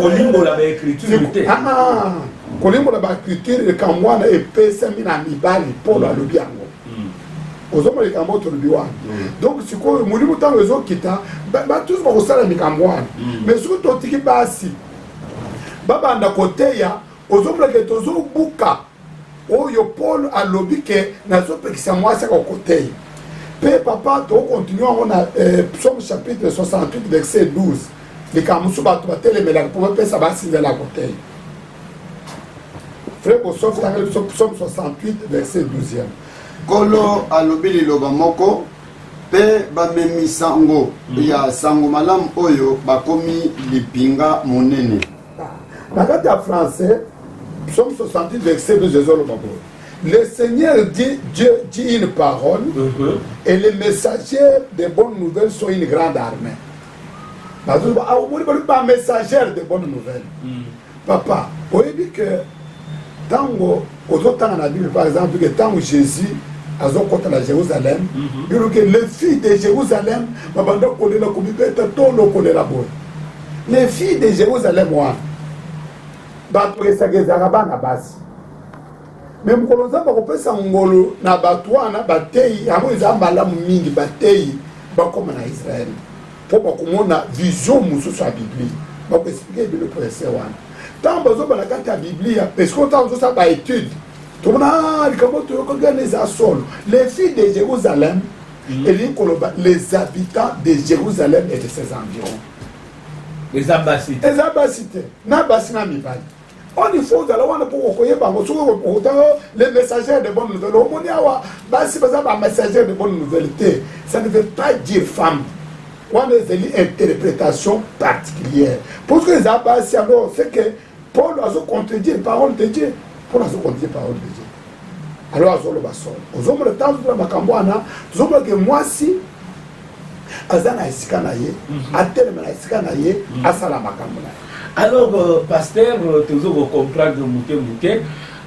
kolimbola baécriture te ah, ah. kolimbola baécriture likambo wana epesami na mibali mpolo hmm. alobi yango hmm. ozomona likambo oyo tolobi wana donc sikoyo molimo ntango ezokita batusu bakosala likambo wana mais soki totiki basi babanda koteya ozomonaka ete ozobuka oyo paul alobi ke nazopekisa mwasi akoko te mpe papa tokokontinue yango na eh, psaume chapitre 68 verset 12 likambo mosusu bato batelemelaka mpo bapesa basinzela yako te fre bosofi tangeli biso psaume 68 verset 12 nkolo alobi liloba moko mpe bamemi sango hmm. ya sango malamu oyo bakomi lipinga monene na kati ya français psaume 68 verset 12 ezoloba boye le seigneur dit dieu dit une parole mhm. et les messagers de bonnes nouvelles sont une grande armée bazoloba ah, omoni balobi bamessagere de bonnes nouvelles mhm. papa oyebi que ntango ozotanga na bible par exemple ke ntango jésus azokɔta na jérusalem mhm. bino ke le fille de jérusalem babanda kolela komibeta to lokolela boye le fille de jérusalem wana bato esaka ezalaka bana basi me mokolo nzambe akopesa ngolo na bato wana bateyi yango eza malamu mingi bateyi bakoma na israele mpo bakomona vision mosusu ya biblia bakoexplike ebele prese wana ntango bazoba na kati ya biblia eske ntango ozosala baetude tomona ah, likambo toyokaki wana eza solo les filles de jérusalem mm. elingi koloba les habitants de jérusalem et de ses environs eza basi te na basi na mibali on il faut ozala wana mpo okoyeba yango soki okotanga les messagers de bonne nouvelle omoni awa basi baza ba messager de bonne nouvelle te ça ne veut pas dire femme wana ezali interprétation particulière parce que eza basi yango c'est que paul azo contredire parole de dieu paul azo contredire parole de dieu alors azoloba solo ozomona ntango tuna makambo wana tozomona ke mwasi aza na esika na ye mhm. atelema na esika na ye mhm. asala makambo na ye Alors, euh, pasteur, euh, tozo ko comprendre muke muke.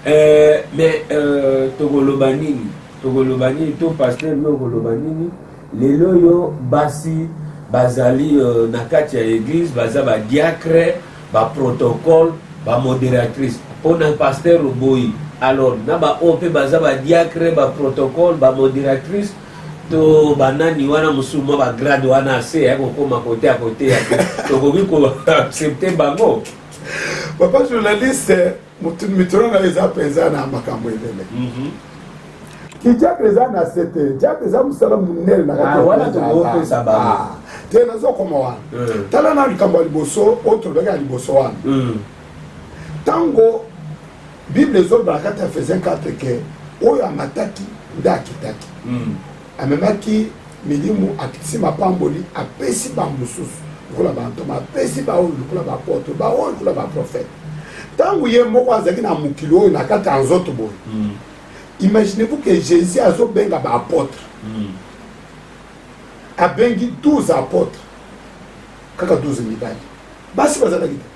Euh, mais euh, tokoloba nini? Tokoloba nini to pasteur no koloba nini? Lelo yo basi bazali euh, na kati ya église baza ba diacre, ba protocole, ba modératrice. Pona pasteur oboyi. Alors, na ba oyo mpe baza ba diacre, ba protocole, ba modératrice to banani wana mosusu mwa bagrade wana ase ya kokoma kote ya koteya te tokoki koaccepte bango papa journaliste mituna na eza mpenza na makambo ebele mhm. kijape eza na se te jape eza mosala monene na ah, wana tokopesa bango ah, te nazokoma wana mm. tala na likambo ya liboso oyo tolobaki ya liboso wana mm. ntango bible ezoloba na kati ya efesien 4 ke oyo amataki nde akitaki mm. amemaki milimu akitisi mapamboli apesi bamosusu lokola bantoma apesi baoyo lokola bapoto baoyo lokola baprofete ntango ye moko azalaki na mokili oyo na kati ya nzoto boye mm. imaginez-vous que jésus azobenga baapotre mm. abengi 12 apotre kaka 12 mibali basi bazalaki te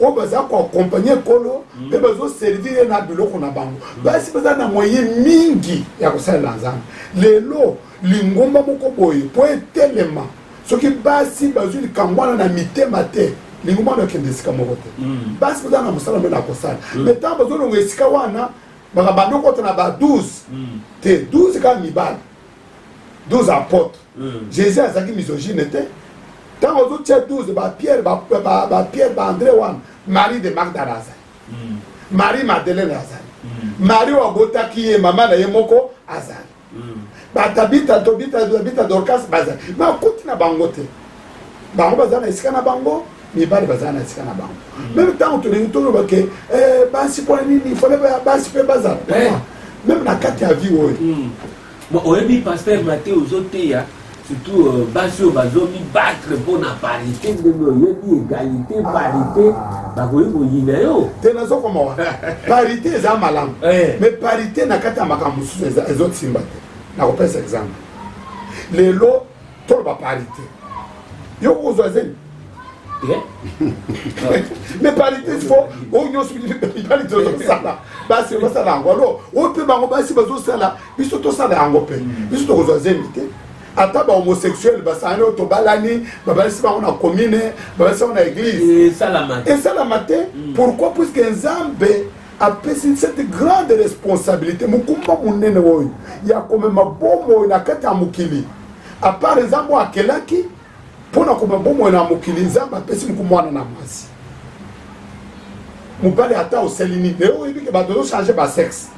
oyo baza koakompagne nkolo mpe bazoservir ye na biloko na bango basi baza na moye mingi ya kosalela nzambe lelo lingomba moko boye mpo etelema soki basi bazwi likambo wana na mitema te lingomba wana ekende esika moko te mm. basi baza na mosala mpe na kosala mm. me ntango bazolonga esika wana bakabanda okota na ba 12 mm. te 12 kaka mibali 12 apôtres mm. jésus azalaki misogyne te ntango ozotia 12 bapierre bapierre ba, ba, ba andré wana marie de magdala azali mm. marie madeleine azali mm. marie oyo abotaki ye mama na ye moko azali mm. batabita tobita dorcas bazali bakuti na bango te bango bazali na esika na bango mibali bazala na esika na bango mm. meme ntango tolingi toloba ke eh, basi mpona nini fale basi mpe bazala eh. meme na kati ya vie oyo mm. Bon, oyebi pasteur Mathieu ozoteya surtout euh, basi oyo bazomi battre mpo na parité ndenge oyebi égalité parité bakoki koyina yo te nazokoma wa parité eza malamu eh. mais parité na kati ya makambo mosusu ezosimba te nakopesa exemple lelo toloba parité yo okozwa zemi mais parité fo oyo nyonso mibali tozosala basi basala yango alo oyo mpe bango basi bazosala biso tosala yango mpe mm. biso tokozwa zemi te ata bahomosexuel basangani oyo tobalani babalisi bango na commune babalisi bango na église esalama te pourquoi puiske nzambe apesi cette grande responsabilité mokumba monene oyo ya komema bomoi na kati ya mokili apart nzambe oyo akelaki mpo na komema bomoi na mokili nzambe apesi mokumba wana na mwasi mobali ata oseli nini lelo oyebi ke bato ozochange basexe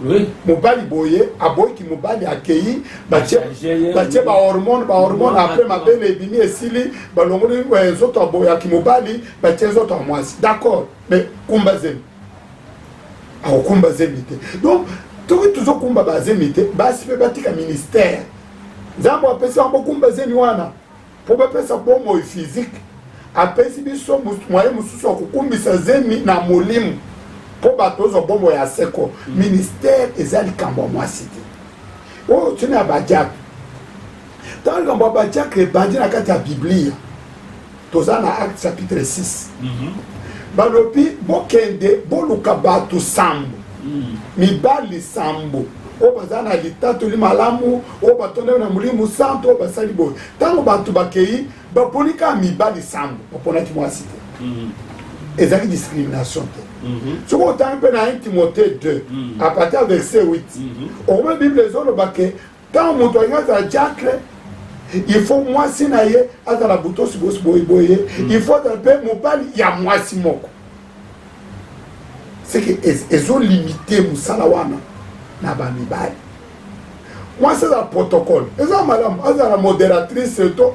mobali boye aboyiki mobali akei batie bahormone bahormone apres mabele ebimi esili balongoli eh, nzoto aboyaki mobali batie nzoto ya mwasi d'accord mais kumba zemi akokumba zemi te donc toki tozokumba bazemi te basi mpe batika ministère nzambe apesi yango bokumba zemi wana mpo bapesa bomoi physique apesi biso mwaye mosusu ya kokumbisa zemi na molimo mpo bato ozwa bomoi ya seko mm. ministère eza likambo ya mwasi te oyo tina ya badiakre ntango likambo ya badiakre ebandi na kati ya biblia toza na acte chapitre 6 mm -hmm. balobi bokende boluka bato sambo mm. mibali sambo oyo baza na litatoli malamu oyo batondami na molimo santu oyo basali boye ntango bato bakei baponi kaka mibali sambo baponaki mwasi te mm. ezalaki discrimination te Mhm. soki otangi mpe na 1 timote 2 mhm. apartir verset 8 mhm. okomona bible ezoloba ke ntango moto alingi azala diacre il faut mwasi na ye azala botosi bosi boye boye mm. il faut azala mpe mobali ya mwasi moko seke ezolimite mosala wana na bamibali mwasi azala protocole eza malamu azala modératrice to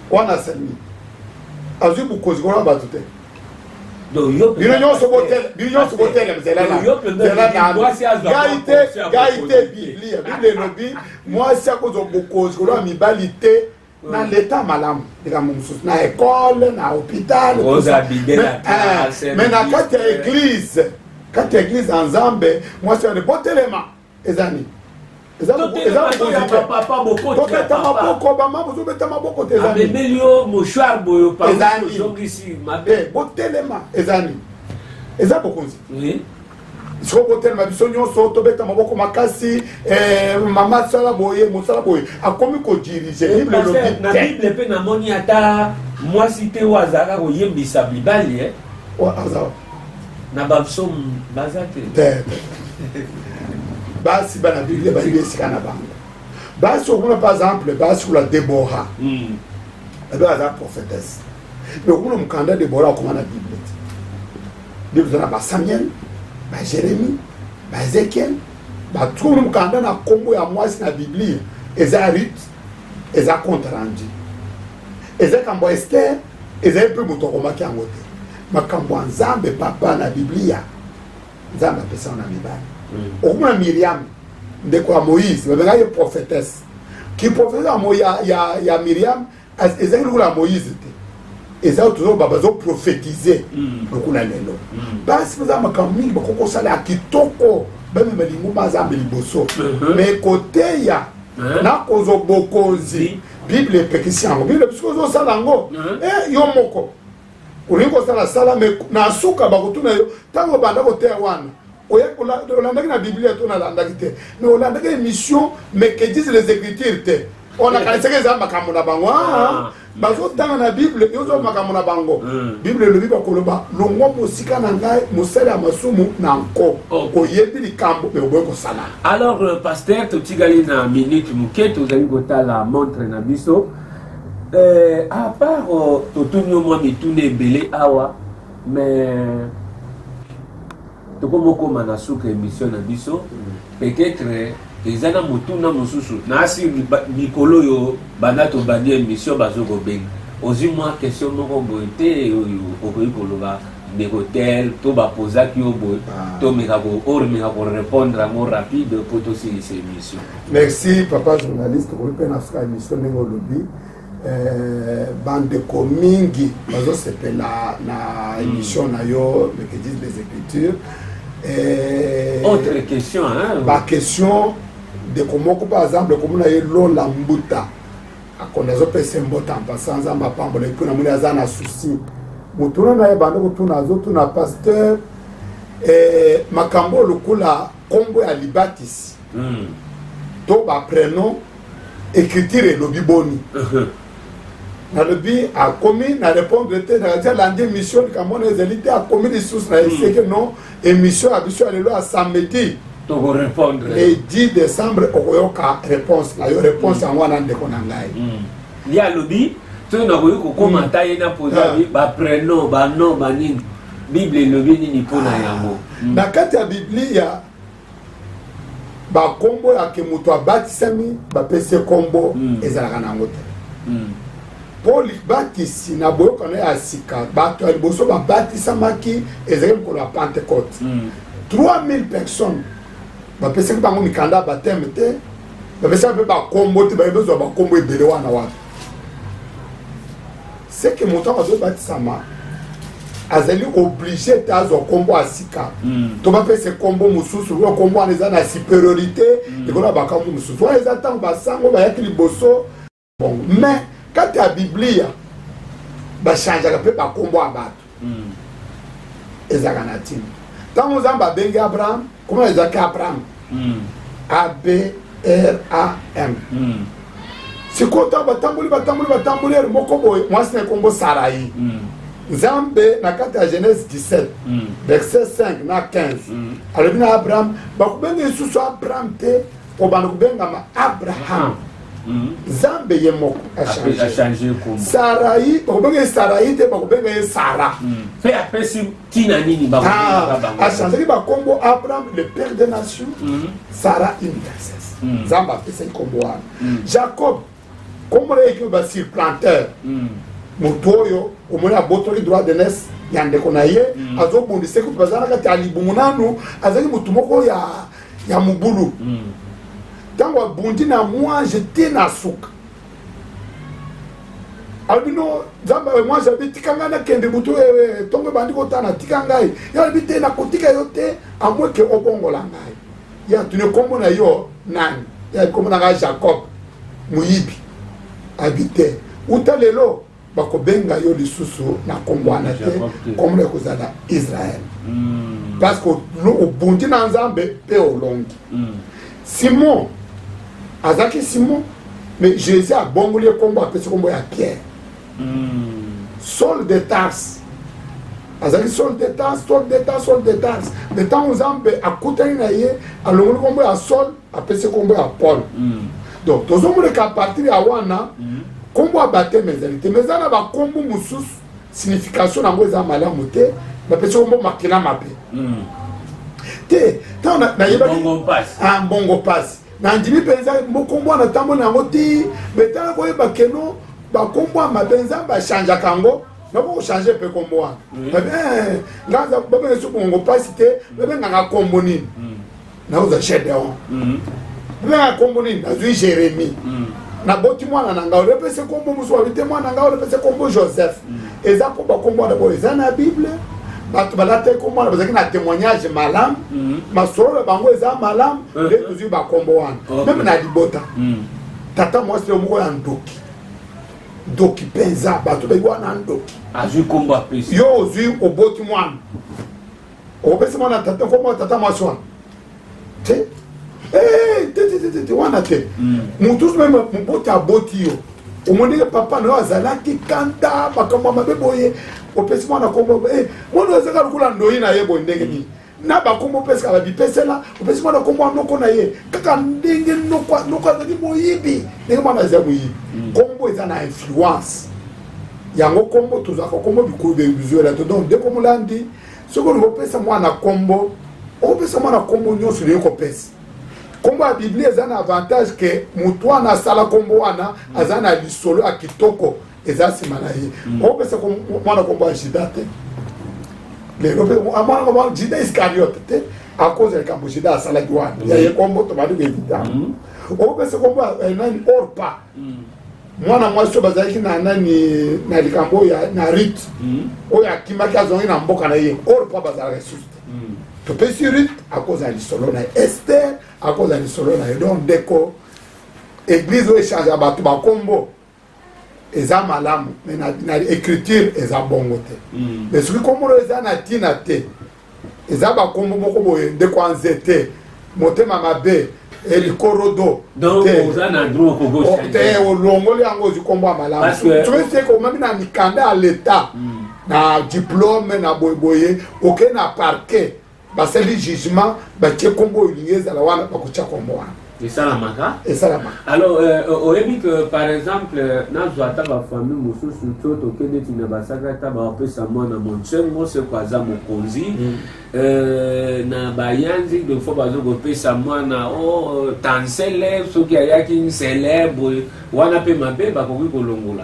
wana asalimi azwi bokonzi kona bato te bino nyonso botelemzelalaai te gai te biblia biblia elobi mwasi akozwa bokonzi koloba mibali te na leta malamu likambo mosusu na ekole na hopital me na kati ya eglize kati ya eglize ya nzambe mwasi wane botelema eza nini tobeta maboko bama bozobeta maboko te ezabebeli yo mouchoir boyo paozongisi mabe eh, botelema eza nini eza bokonzi sikoyo botelema biso nyonso tobeta maboko makasi eh, mama sala boye mosala boye akomi kodirige eh, bible elobi na bible mpe namoni ata mwasi te oyo azalaka koyembisa mibali na babsom baza te basi bana biblia bayebi esika na bango basi okuna par exemple basi kula debora hmm. ebe aza prophétesse mais okuna mokanda debora akoma na biblia te biblia eza na basamuel bajeremi baezekiel batukuna mokanda na nkombo ya mwasi na biblia eza rut eza compte rendu eza kambo ester ezali mpe moto akomaki yango te makambo ya nzambe papa na biblia nzambe apesaka na mibali mm. okomona miriame ndeko ya moïse babengaki ye prophétesse kiprofete yango ya, ya, ya miriame ezalaki lokola ya moïse te eza oyo tozoloba bazoprofetize mm. lokola lelo basi mm. baza makambo mingi bakoki kosala ya kitoko bamema linguma azambe liboso me mm-hmm. koteya eh? na kozwa bokonzi bible epekisi yango bible biso ozosala yango eh, yo moko olingi kosala sala me na suka bakotuna yo ntango obanda koteya wana olandaki na biblia to nalandaki te me olandaki émission mais que disent les écritures te on akanisaki eza makambo na bango ah, ah, ah. bazotanga na bible yozo makambo na bango hmm. bible elobi bakoloba longwa mosika na ngai mosali ya masumu na nko oyebi likambo me oboyi kosala Alors, euh, pasteur, totikali na minute moke tozali kotala montre na biso euh, à part euh, totuni yo mwa mituna ebele awa mais tokomi okoma na suka émission na biso peut-être eza na motuna mosusu naasi mikolo oyo banda tobandi émission bazokobenga ozwi mwa question moko boye te oyo okoki koloba ndeko tel to ba posaki yo boye ah. to meka ko or meka ko répondre yango rapide po to silisa émission merci papa journaliste okoki mpe na suka émission ndenge olobi eh, bandeko mingi bazosepela na hmm. émission na yo lekedise des écritures eh, autre question hein? ba question ndeko moko par exemple okomona ye lola mbuta akonda azopesa ye mbota en passant nzambe apambola ye mpo namoni aza na souci motuna na ye banda kotuna azotuna pasteur eh, makambo oyo lokola nkombo ya libatisi mm. to baprenom écriture elobi boni uh-huh. nalobi akomi na répondre te nakati alandi émission likambo wana ezali te akomi lisusu na eseke mm. non émission ya biso ya lelo ya samedi tokorépondre le 10 décembre okoyoka réponse na yo réponse yango wana ndeko na ngai hmm. ye alobi soki nakoki kokoma hmm. ata ye na poza ah. baprenom banom banini bible elobi nini mpo na yango hmm. na kati ya biblia bakombo ya ke moto abatisami bapesi kombo mm. ezalaka na yango te mm. mpo libatisi na boyokano ya sika bato ya liboso babatisamaki ezali mokolo ya pentecote 3000 mm. personnes bapesaki bango mikanda ya bateme te bapesaki mpe bakombo te baye bazwa bakombo ebele wana wapi c'est que moto yango azobatisama azali oblige te azwa nkombo ya sika hmm. to bapesa nkombo mosusu lokola nkombo wana eza na superiorité hmm. likolo ya bakambo mosusu wana eza ntango basango bayaki liboso bongo mais kati ya biblia bachangeaka mpe bankombo ya bato hmm. ezalaka na ntina ntango nzambe abengi abraham komona ezalaki abraham hmm. abram hmm. sikoyo ntango batamboli batamboli batamboli ere moko boye mwasi na ekombo sarai nzambe na kati ya genèse 17 verset 5 na 15 alobi na abraham bakobenga lisusu abraham te obanda kobengama abraham nzambe ye moko achange sarai bakobenga ye sarai te bakobenga ye sara mpe hmm. apesi ntina nini ah, achanzaki bakombo abraham le père de nation hmm. sara une princesse hmm. nzambe apesaki kombo wana jacob kombo na ye ekimi basurplanteur moto oyo omoni abotoli droit de naissance ya ndeko na ye azobundisa kutu baza na kati ya libumu nanu azalaki motu moko ya ya mobulu ntango hmm. abundi na mwanje te na suka alobi no nzambe eh, mwanje abi tika ngai nakende butu eh, eh, ntongo ebandi kotana tika ngai ye alobi te nakotika yo te amweke obongola ngai ye atuni nkombo na yo nani ye nkombo na ngai jacob moyibi abi te uta lelo bakobenga yo lisusu na nkombo wana te nkombo ya kozala israel hmm. parce que obundi na nzambe mpe olongi hmm. simon azalaki simon mais jésus abongoli nkombo apesi nkombo ya pierre hmm. sol de tarse azalaki sol de tarse sol de tarse sol de tarse mais ntango nzambe akutani na ye alongoli nkombo ya sol apesi nkombo ya paul mm. donc tozomoneka apartir ya wana mm. nkombo ya bateme ezali te ma eza na bankombo mosusu signification na yango eza malamu te bapesi nkombo makila mabe mm. te ntango nayebaki mbongo mpasi ah, nandimi mpenza mokombo wana ntango na yango ti betala koyeba keno bankombo ya mabe nzambe achangeaka yango nako kochange mpe nkombo wana eh, nga babengesi bongo mpasi te babengaka nkombo nini nauza gedeon nanga nkombo nini nazwi jérémi naboti mwana na ngai orepese nkombo mosusu wabi te mwana na ngai orepese nkombo joseph eza mpo bakombo wana boyo eza na bible bato balataki nkombo wana bazalaki na témoignage malamu masolo na bango eza malamu nde tozwi bakombo wana meme na libota tata mwasi yo moko ya ndoki ndoki mpenza bato bayi wana ndoki yo ozwi oboti mwana okopesa mwana tata nkombo ya tata mwasi wana te eh, te te te te wana te hmm. motu soki moboti aboti yo omonike papa na yo azalaki kanda makambo ya mabe boye opesi mwana nkombo eh, mwana oyo azaka lokola ndoyi na ye boye ndenge nini na bakombo opesaka babipesela opesi mwana nkombo ya noko na ye kaka ndenge noko azali moyibi ndenge mwana azali moyibi hmm. nkombo eza na influence yango nkombo tozwaka nkombo bikulu bizuela to donc ndeko molandi soki olingi opesa mwana nkombo okopesa mwana nkombo nyonso olingi kopesa nkombo ya biblia eza na avantage ke motu wana asala nkombo wana mm. aza na lisolo ya kitoko eza nsima na ye mm. okopesa mwana nkombo ya jida te lelo mpe ah, mwana nkombo jida iscariote te akoza likambo jida asalaki wana mm. yaye nkombo tobandi koevita okopesa nkombo ya eh, nani orpa mwana mwasi oyo bazalaki na nani na likambo oyo na rite hmm. oyo akimaki azongi na mboka na ye or mpo bazalaka esusu te hmm. topesi rite akozala lisolo na ye ester akozala lisolo na ye donc ndeko eglise oyo echange bato bakombo eza malamu me na, na écriture eza bongo te mm. me soki kombo oyo eza na ntina te eza bakombo moko boye ndeko anze te motema mabe elikorodo te olongoli yango ozwi kombo ya malamu soki seke omami na mikanda ya leta hmm. na diplome na boyeboye oke na parquet basali jugement batie kombo oyo olingi ezala wana bakotya kombo wana esalamaka esalamaka alors euh, euh, oyebi que par exemple euh, nazwa ata bafamille mosusu to toke neti na basaka ata bapesa mwana monsengo seko aza mokonzi mm. na bayanzi de fois bazo kopesa mwana o oh, tansele soki ayaki nsele boye wana mpe mabe bakoki kolongola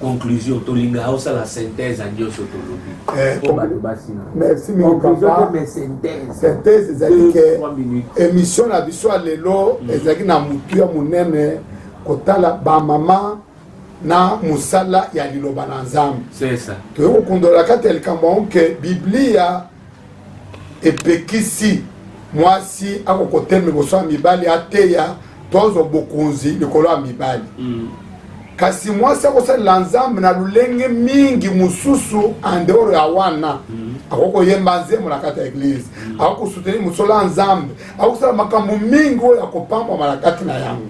conclusion tolinga osala synthèse ya nyonso tolobi eh. po bato basina merci mingi papa synthèse ezali ke émission na biso ya lelo mm. ezalaki na motu ya monene kotala bamama na mosala ya liloba na nzambe toyei kokundolaka te likambo yango ke biblia epekisi mwasi akoko te liboso ya mibali ateya tozo bokonzi likolo ya mibali mm. kasi mwasi akosalela nzambe na lolenge mingi mosusu andeoro ya wana mm. akoki koyemba nzembo na kati ya eglize mm. akoki kosuteni mosolo ya nzambe akoki kosala makambo mingi oyo akopambwama na kati na yango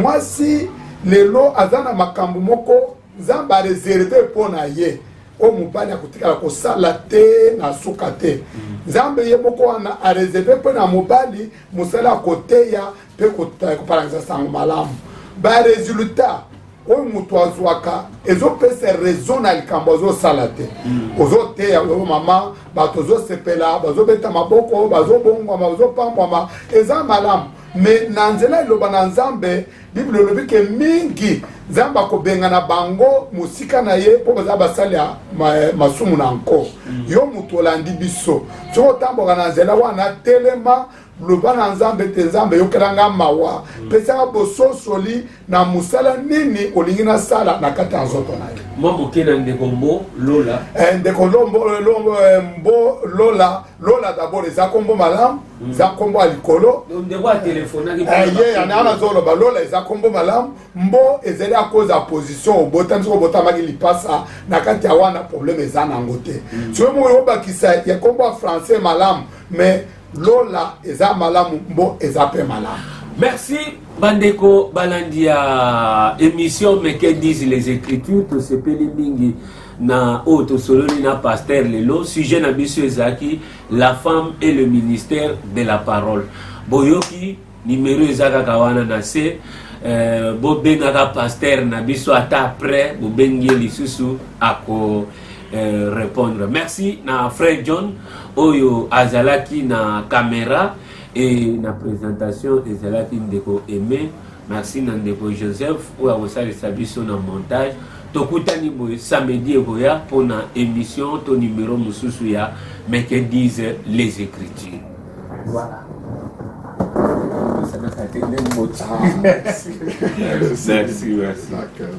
mwasi lelo aza na makambo moko nzambe areserve mpo na ye oyo mobali akotikala kosala te na suka te mm. nzambe ye moko wana areserve mpo na mobali mosala ya koteya mpe kopalangisa sango malamu baresultat oyo moto azwaka ezopesa raison na likambo azosala te mm. ozoteya oyo mama bato ozosepela bazobeta maboko bazobongwama bazopambwama eza malamu me na nzela eloba na nzambe biblia elobi ke mingi nzambe akobengana bango mosika na ye mpo baza basali ya masumu na nko mm. yo moto olandi biso soki otamboka na nzela wana telema loba na nzambe ete nzambe yokela nga mawa mm. pesaka bososoli na mosala nini olingi nasala na kati ya nzoto na ye mwa moke na ndeko mbo lola eh, ndeko lombo eh, eh, mbo lola lola dabord eza nkombo malamu mm. eza nkombo ya likolo eh, ye yana wana azoloba lola eza nkombo malamu mbo ezali akoza position obotami soki obotamaki lipasa na kati ya wana probleme eza nango te mm. soki moko obakisa ya nkombo ya français malamu mais lola eza malamu mbo eza mpe malamu merci bandeko balandi ya émission meke dise les écritures tosepeli mingi na oyo tosololi na pasteur lelo sujet na biso ezalaki la femme et le ministère de la parole boyoki nimero eza kaka wana na se euh, bobengaka pasteur na biso ata après bobengi ye lisusu ako euh, répondre merci na frère john oyo azalaki na caméra et na présentation ezalaki ndeko aimé Merci na ndeko Joseph oyo akosalisa biso na montage. Tokutani boye samedi ekoya mpo na émission to numero mosusu ya Mais que disent les écritures. Voilà. Merci, merci. D'accord.